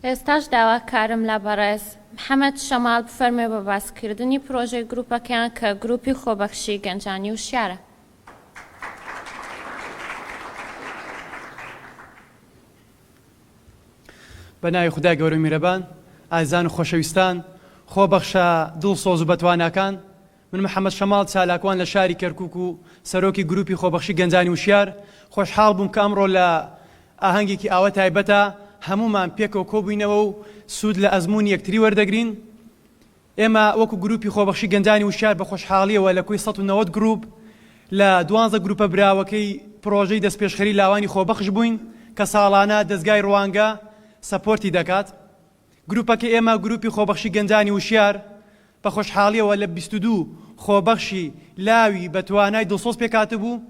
ئێستاش داواکارم لە بەڕێز، محەمەد شەماڵ، بفەرموێ بە باسکردنی پرۆژەی گروپەکەیان کە گروپی خۆبەخشی گەنجانی وشیارە. بە ناوی خودای گەورە میرەبان، ئازیزان و خۆشەویستان، خۆبەخشە دڵسۆز و بەتواناکان، من محەمەد شەماڵ چالاکوان لە شاری کەرکووک و سەرۆکی گرووپی خۆبەخشی گەنجانی وشیار، خۆشحاڵ بووم کە ئەمڕۆ لە ئاهەنگێکی ئاوە تایبەتا هەموومان پێکەوە کۆبووینەوە و سوود لە ئەزموونی یەکتری وەردەگرین. ئێمە وەکو گرووپی خۆبەخشی گەنجانی وشیار بە خۆشحاڵییەوە لە کۆی سەد و نەوەد گرووپ لە دوانزە گرووپە براوەکەی پڕۆژەی دەستپێشخەری لاوانی خۆبەخش بووین کە ساڵانە دەزگای ڕوانگە سەپۆرتی دەکات. گروپەکە ئێمە گروپی خۆبەخشی گەنجانی وشیار بە خۆشحاڵیەوە لە بیست و دوو خۆبەخشی لاوی بە توانای دڵسۆز پێکهاتبوو،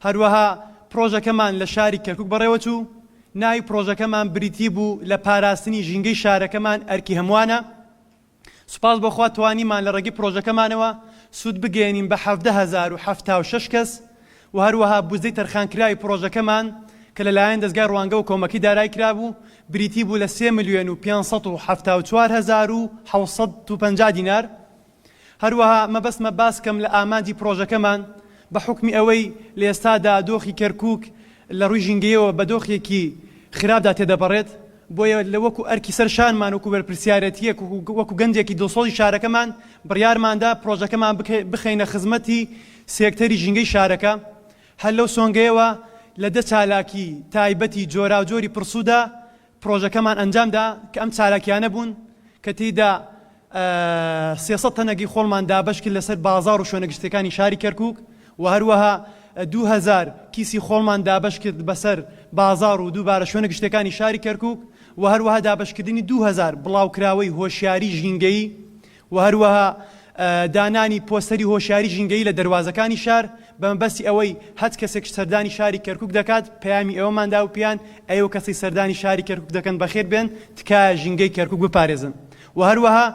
هەروەها پڕۆژەکەمان لە شاری کەرکوک بەڕێوەچوو، ناوی پڕۆژەکەمان بریتی بوو لە پاراستنی ژینگەی شارەکەمان ئەرکی هەموانە، سوپاس بۆ خوا توانیمان لە ڕێگەی پڕۆژەکەمانەوە سوود بگەیەنین بە حەڤدە هەزار و حەفتا و شەش کەس، و هەروەها بودجەی تەرخانکراوی پڕۆژەکەمان کە لەلایەن دەزگای ڕوانگە و کۆمەکی دارای کرابوو، بریتی بوو لە سێ ملیۆن و پێنج سەد و حەفتا و چوار هەزار و حەوت سەد و پەنجا دینار. هەروەها مەبەستمە باس بکەم لە ئامانجی پڕۆژەکەمان، بە حوکمی ئەوەی لە ئێستادا دۆخی کەرکووک لە ڕووی ژینگەیەوە بە دۆخێکی خراپدا تێدەپەڕێت، بۆیە وەکو ئەرکی سەر شانمان، وەکو بەرپرسیارێتییەک و وەکو گەنجێکی دڵسۆزی شارەکەمان، بڕیارماندا پڕۆژەکەمان بخەینە خزمەتی سێکتەری ژینگەی شارەکە هەر لەو سۆنگەیەوە لە دە چالاکی تایبەتی جۆراوجۆری پڕسودا پڕۆژەکەمان ئەنجامدا کە ئەم چالاکیانە بوون کە تێیدا سێ سەد تەنەگەی خۆڵمان دابەشکرد لەسەر بازاڕ و شوێنە گشتیەکانی شاری کەرکوک و هەروەها دوو هەزار کیسی خۆڵمان دابەشکرد بەسەر بازاڕ و دووبارە شوێنە گشتیەکانی شاری کەرکوک و هەروەها دابەشکردنی دوو هەزار بڵاوکراوەی هۆشیاری ژینگەیی و هەروەها دانانی پۆستەری هۆشیاری ژینگەیی لە دەروازەکانی شار بە مەبەستی ئەوەی هەچ کەسێک سەردانی شاری کەرکوک دەکات پەیامی ئێوەمان دا و پێیان ئەیوە کەسەی سەردانی شاری کەرکوک دەکەن بەخێر بێن تکایە ژینگەی کەرکوک بپارێزن و هەروەها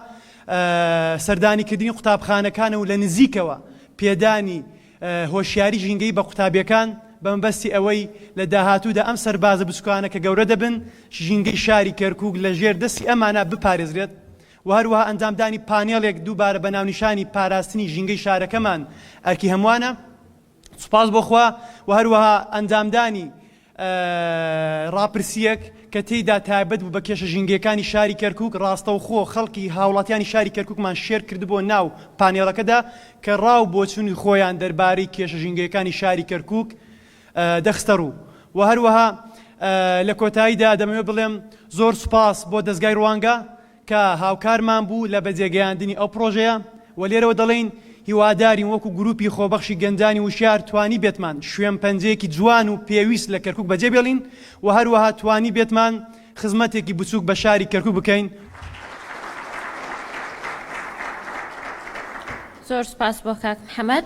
سەردانی کردنی قوتابخانەکان و لە نزیکەوە پێدانی هۆشیاری ژینگەی بە قوتابیەکان بە مەبەستی ئەوەی لە داهاتوودا ئەم سەربازە بچکانە کە گەورە دەبن ژینگەی شاری کەرکوک لە ژێر دەستی ئەمانە بپارێزرێت و هەروەها ئەنجامدانی پانێڵێک دووبارە بە ناونیشانی پاراستنی ژینگەی شارەکەمان ئەرکی هەمووانە سوپاس بۆ خوا و هەروەها ئەنجامدانی ڕاپرسیەک کە تێیدا تایبەت بوو بە کێشە ژینگەکانی شاری کەرکک ڕاستەوخۆ خەڵکی هاوڵاتیانی شاری کەرککمان شێر کردبوو ناو پانێڵەکەدا کە ڕاو بۆچوونی خۆیان دەربارەی کێشە ژینگەکانی شاری کەرکک دەخستەڕوو و هەروەها لە کۆتاییدا دەمەوێت بڵێم زۆر سوپاس بۆ دەزگای ڕوانگە کە هاوکارمان بوو لە بەجێگەیاندنی ئەو پڕۆژەیە و لێرەوە دەڵێین هیوادارین وەکو گروپی خۆبەخشی گەنجانی وشیار توانیبێتمان شوێنپەنجەیەکی جوان و پێویست لە کەرکوک بەجێبێڵین و هەروەها توانیبێتمان خزمەتێکی بچوک بە شاری کەرکوک بکەین. زۆر سوپاس بۆ کاک محەمەد.